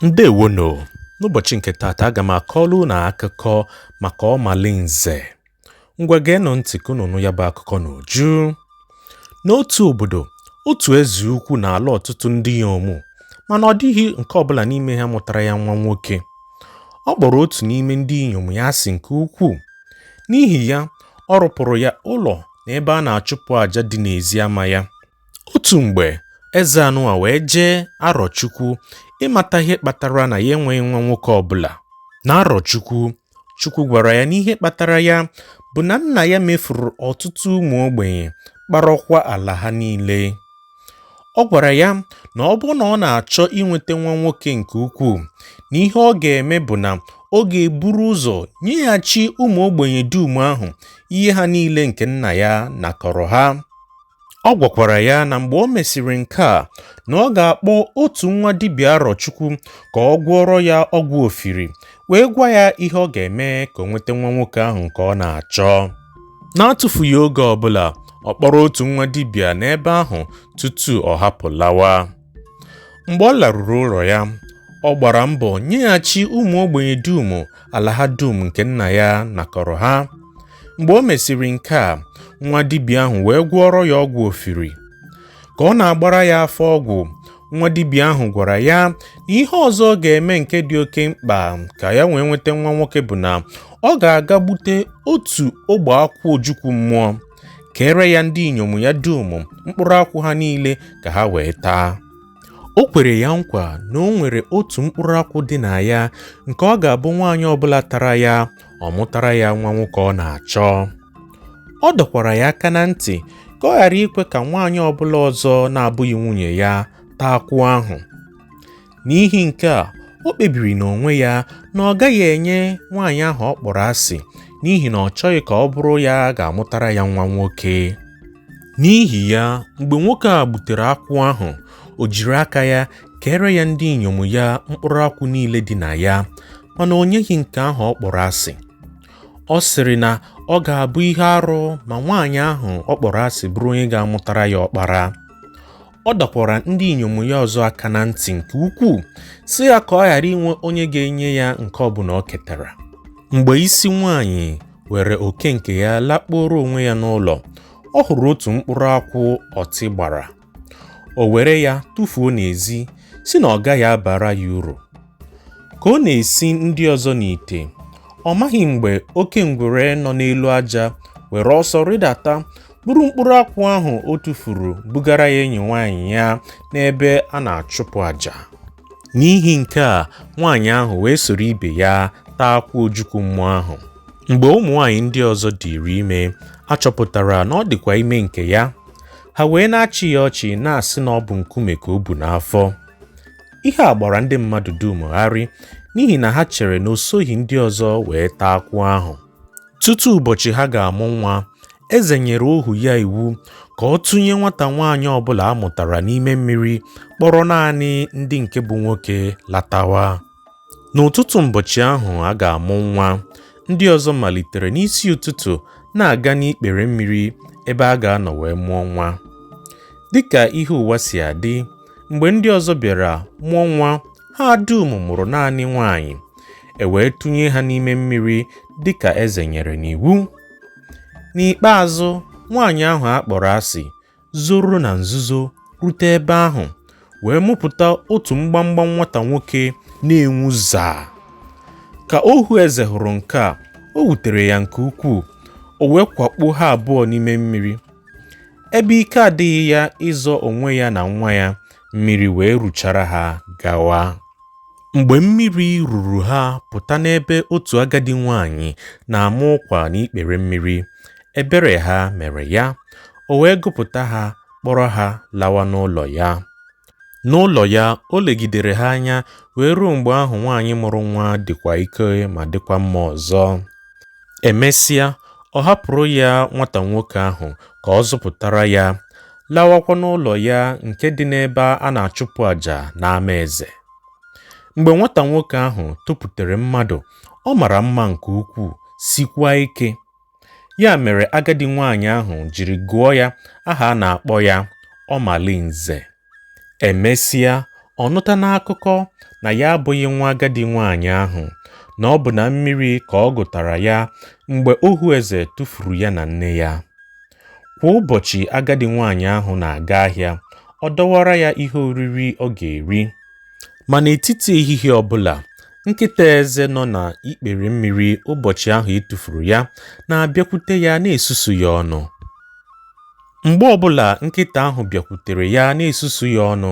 Ndewonu! N'ụbọchị nke taata, aga m akọrọ unu akụkọ maka Ọmalinze. Ngwa geenụ ntị ka unu nụ ya bụ akụkọ n'uju. N'otu obodo, otu eze ukwu na-alụ ọtụtụ ndị inyom, mana ọ dịghị nke ọbụla n'ime ha mụtara ya nwa nwoke. Ọ kpọrọ otu n'ime ndị inyom ya asị nke ukwuu. N'ihi ya, ọ rụpụrụ ya ụlọ na ebe a na-achụpụ aja dị n'ezi ama ya. Otu mgbe, eze anụwa wee jee Arọchukwu ịmata ihe kpatara na ya enweghị nwa nwoke ọbụla. Na Arọchukwu, Chukwu gwara ya na ihe kpatara ya bụ na nna ya mefuru ọtụtụ ụmụ ogbenye, kparọkwa ala ha niile. Ọ gwara ya na ọ bụrụ na ọ na-achọ inweta nwa nwoke nke ukwuu, na ihe ọ ga-eme bụ na ọ ga-eburu ụzọ nyeghachi ụmụ ogbenye dum ahụ ihe ha niile nke nna ya nakọrọ ha. Ọ gwakwara ya na mgbe o mesịrị nke a na ọ ga-akpọ otu nwa dibịa Arọchukwu ka ọ gwọọrọ ya ọgwụ ofiri wee gwa ya ihe ọ ga-eme ka o nweta nwa nwoke ahụ nke ọ na-achọ n'atụfughị oge ọbụla ọ kpọrọ otu nwa dibịa n'ebe ahụ tutu ọ hapụ lawa mgbe ọ laruru ụlọ ya ọ gbara mbọ nyeghachi ụmụ ogbenye dum ala ha dum nke nna ya nakọrọ ha mgbe o mesịrị nke a nwa dibịa ahụ wee gwọọrọ ya ọgwụ ofiri ka ọ na-agbara ya afa ọgwụ nwa dibịa ahụ gwara ya na ihe ọzọ ọ ga-eme nke dị oke mkpa ka ya wee nweta nwa nwoke bụ na ọ ga-aga gbute otu ogbe akwụ ojukwu mmụọ keere ya ndị inyom ya dum mkpụrụ akwụ ha niile ka ha wee taa o kwere ya nkwa na o nwere otu mkpụrụ akwụ dị na ya nke ọ ga-abụ nwaanyị ọbụla tara ya ọ mụtara ya nwa nwoke ọ na-achọ ọ dọkwara ya aka na ntị ka ọ ghara ikwe ka nwaanyị ọbụla ọzọ na-abụghị nwunye ya taa akwụ ahụ N'ihi nke a, o kpebiri n'onwe ya na ọ gaghị enye nwaanyị ahụ ọ kpọrọ asị n'ihi na ọ chọghị ka ọ bụrụ ya ga-amụtara ya nwa nwoke. N'ihi ya, mgbe nwoke a gbutere akwụ ahụ, o jiri aka ya keere ya ndị inyom ya mkpụrụ akwụ niile dị na ya, mana o nyeghị nke ahụ ọ kpọrọ asị. Ọ sịrị na ọ ga-abụ ihe arụ ma nwaanyị ahụ ọ kpọrọ asị bụrụ onye ga-amụtara ya ọkpara. ọ dọkwara ndị inyom ya ọzọ aka na ntị nke ukwuu sị ha ka ọ ghara inwe onye ga-enye ya nke ọbụla o ketara mgbe isi nwaanyị weere oke nke ya lakpuoro onwe ya n'ụlọ ọ hụrụ otu mkpụrụ akwụ ọtị gbara o were ya tụfuo n'ezi sị na ọ gaghị abara ya uru Ka ọ na-esi ndị ọzọ n'ite, ọ maghị mgbe oke ngwere nọ n'elu aja were ọsọ rịdata buru mkpụrụ akwụ ahụ o tufuru bugara ya enyi nwaanyị ya n'ebe a na-achụpụ aja. N'ihi nke a, nwaanyị ahụ wee soro ibe ya taa akwụ ojukwu mmụọ ahụ. Mgbe ụmụ nwaanyị ndị ọzọ dịịrị ime, a chọpụtara na ọ dịkwa ime nke ya. Ha wee na-achị ya ọchị na-asị na ọ bụ nkume ka o bu n'afọ. ihe a gbara ndị mmadụ dum gharị n'ihi na ha chere na o soghị ndị ọzọ wee taa akwụ ahụ tutu ụbọchị ha ga-amụ nwa eze nyere ohu ya iwu ka ọ tụnye nwata nwaanyị ọbụla a mụtara n'ime mmiri kpọrọ naanị ndị nke bụ nwoke latawa N'ụtụtụ ụbọchị ahụ a ga-amụ nwa, ndị ọzọ malitere n'isi ụtụtụ na-aga n'ikpere mmiri ebe a ga-anọ wee mụọ nwa. Dị ka ihe ụwa si adị, mgbe ndị ọzọ bịara mụọ nwa, ha dum mụrụ naanị nwaanyị, e wee tụnye ha n'ime mmiri dị ka eze nyere n'iwu. N'ikpeazụ, nwaanyị ahụ a kpọrọ asị zoro na nzuzo rute ebe ahụ wee mụpụta otu mgbamgba nwata nwoke na-enwu zaa. Ka ohu eze hụrụ nke a, o wutere ya nke ukwuu, o wee kwakpuo ha abụọ n'ime mmiri. Ebe ike adịghị ya ịzọ onwe ya na nwa ya, mmiri wee ruchara ha gawa. Mgbe mmiri ruru ha pụta n'ebe otu agadi nwaanyị na-ama ụkwa n'ikpere mmiri, ebere ha mere ya, o wee gụpụta ha kpọrọ ha lawa n'ụlọ ya. N'ụlọ ya, o legidere ha anya wee ruo mgbe ahụ nwaanyị mụrụ nwa dịkwa ike ma dịkwa mma ọzọ. E mesịa, ọ hapụrụ ya nwata nwoke ahụ ka ọ zụpụtara ya, lawakwa n'ụlọ ya nke dị n'ebe a na-achụpụ aja n'ama eze. Mgbe nwata nwoke ahụ toputere mmadụ, ọ mara mma nke ukwuu, sikwa ike. Ya mere agadi nwaanyị ahụ jiri gụọ ya aha a na-akpọ ya Ọmalinze. E mesịa, ọ nụta n'akụkọ na ya abụghị nwa agadi nwaanyị ahụ, na ọ bụ na mmiri ka ọ gụtara ya mgbe ohu eze tụfuru ya na nne ya. Kwa ụbọchị agadi nwaanyị ahụ na-aga ahịa, ọ dọwara ya ihe oriri ọ ga-eri. Ma n'etiti ehihie ọ bụla, nkịta eze nọ n'ikpere mmiri ụbọchị ahụ e tufuru ya na-abịakwute ya na-esusu ya ọnụ. Mgbe ọ bụla nkịta ahụ bịakwutere ya na-esusu ya ọnụ,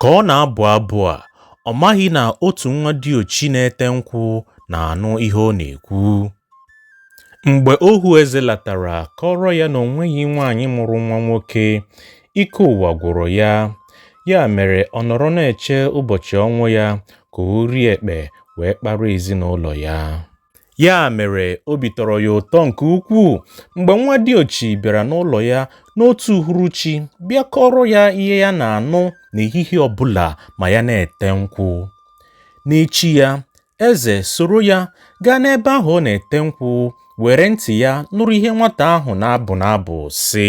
Ka ọ na-abụ abụ a, ọ maghị na otu nwa diochi na-ete nkwụ na-anụ ihe ọ na-ekwu. Mgbe ohu eze latara kọọrọ ya na o nweghị nwaanyị mụrụ nwa nwoke, ike ụwa gwụrụ ya. Ya mere ọ nọrọ na-eche ụbọchị ọnwụ ya ka ori ekpe wee kpara ezinụlọ ya. Ya mere, obi tọrọ ya ụtọ nke ukwuu mgbe nwa diochi bịara n'ụlọ ya n'otu uhuruchi bịa kọọrọ ya ihe ya na-anụ n'ehihie ọ bụla ma ya na-ete nkwụ. N'echi ya, eze soro ya gaa n'ebe ahụ ọ na-ete nkwụ, were ntị ya nụrụ ihe nwata ahụ na-abụ n'abụ, sị,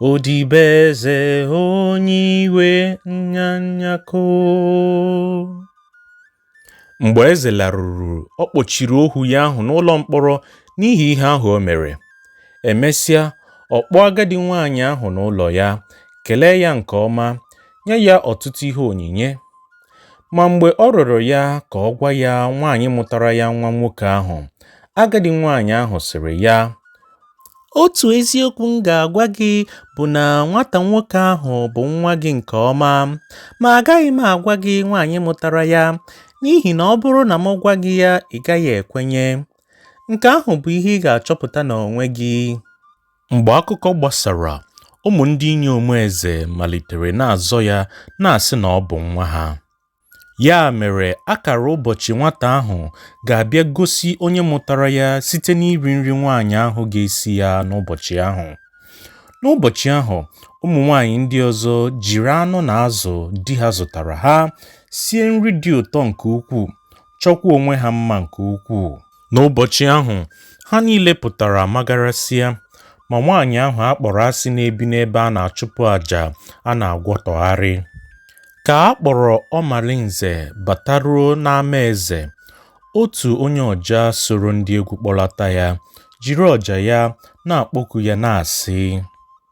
Odibo eze onye iwe nyanyako mgbe eze laruru ọ kpọchiri ohu ya ahụ n'ụlọ mkpọrọ n'ihi ihe ahụ o mere e mesịa ọ kpọọ agadi nwaanyị ahụ n'ụlọ ya kelee ya nke ọma nye ya ọtụtụ ihe onyinye ma mgbe ọ rịọrọ ya ka ọ gwa ya nwaanyị mụtara ya nwa nwoke ahụ agadi nwaanyị ahụ sịrị ya Otu eziokwu m ga-agwa gị bụ na nwata nwoke ahụ bụ nwa gị nke ọma. Ma agaghị m agwa gị nwaanyị mụtara ya, n'ihi na ọ bụrụ na m gwa gị ya ị gaghị ekwenye. Nke ahụ bụ ihe ị ga-achọpụta n'onwe gị. Mgbe akụkọ gbasara, ụmụ ndị inyom eze malitere na-azọ ya, na-asị na ọ bụ nwa ha. Ya mere, a kara ụbọchị nwata ahụ ga-abịa gosi onye mụtara ya site n'iri nri nwaanyị ahụ ga-esi ya n'ụbọchị ahụ. N'ụbọchị ahụ, ụmụ nwaanyị ndị ọzọ jiri anụ na azụ di ha zụtaara ha sie nri dị ụtọ nke ukwuu, chọkwaa onwe ha mma nke ukwuu. N'ụbọchị ahụ, ha niile pụtara magarasịa, ma nwaanyị ahụ a kpọrọ asị na-ebi n'ebe a na-achụpụ aja a na-agwọtọgharị. Ka a kpọrọ Ọmalinze bataruo n'ama eze, otu onye ọja soro ndị egwu kpọlata ya, jiri ọja ya na-akpọku ya na-asị: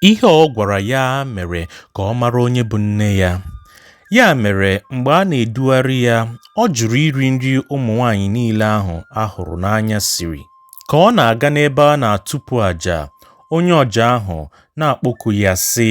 Ihe ọ gwara ya mere ka ọ mara onye bụ nne ya. Ya mere, mgbe a na-edugharị ya, ọ jụrụ iri nri ụmụ nwaanyị niile ahụ a hụrụ n'anya siri. Ka ọ na-aga n'ebe a na-atụpụ aja, onye ọja ahụ na-akpọku ya, sị,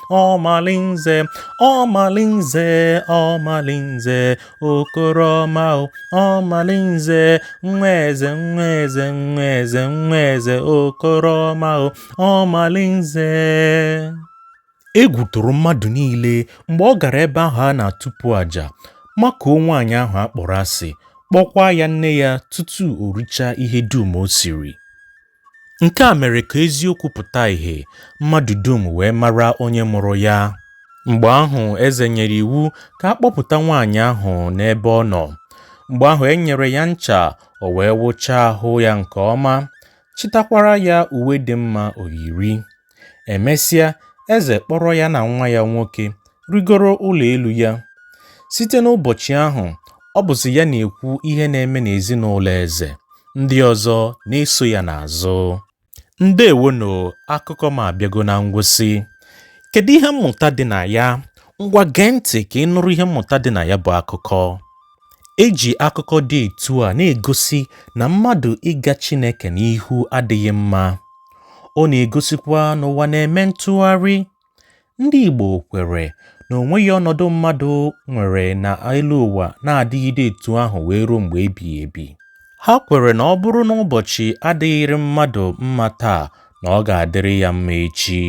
ọmalinze ọmalinze ọmalinze okoro ọma ọmalinze nwa eze nwa eze nwa eze nwa eze okoro ọma ọmalinze egwu tụrụ mmadụ niile mgbe ọ gara ebe ahụ a na-atụpụ àjà makụọ nwaanyị ahụ a kpọrọ asị kpọkwaa ya nne ya tutu o richaa ihe dum o siri Nke a mere ka eziokwu pụta ihe, mmadụ dum wee mara onye mụrụ ya. Mgbe ahụ, eze nyere iwu ka a kpọpụta nwaanyị ahụ n'ebe ọ nọ. Mgbe ahụ, e nyere ya ncha, o wee wụchaa ahụ ya nke ọma, chịtakwara ya uwe dị mma o yiri. Emesịa, eze kpọrọ ya na nwa ya nwoke rigoro ụlọ elu ya. Site n'ụbọchị ahụ, ọ bụzi ya na-ekwu ihe na-eme n'ezinụlọ eze, ndị ọzọ na-eso ya n'azụ. Ndewonụ, akụkọ m abịago na ngwụsị. Kedu ihe mmụta dị na ya? Ngwa gee ntị ka ị nụrụ ihe mmụta dị na ya bụ akụkọ. E ji akụkọ dị etu a na-egosi na mmadụ ịga Chineke n'ihu adịghị mma. Ọ na-egosikwa na ụwa na-eme ntụgharị. Ndị Igbo kweere na o nweghị ọnọdụ mmadụ nwere n'elu ụwa na-adịgide etu ahụ wee ruo mgbe ebighị ebi. Ha kweere na ọ bụrụ na ụbọchị adịghịrị mmadụ mma taa, na ọ ga-adịrị ya mma echi.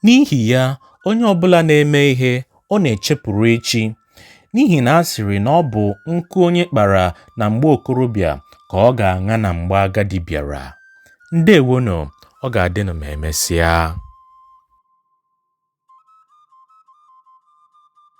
N'ihi ya, onye ọ bụla na-eme ihe ọ na-echepụrụ echi. N'ihi na a sịrị na ọ bụ nkụ onye kpara na mgbe okorobịa ka ọ ga-aṅa na mgbe agadi bịara. Ndewonụ, ọ ga-adịnụ ma emesịa.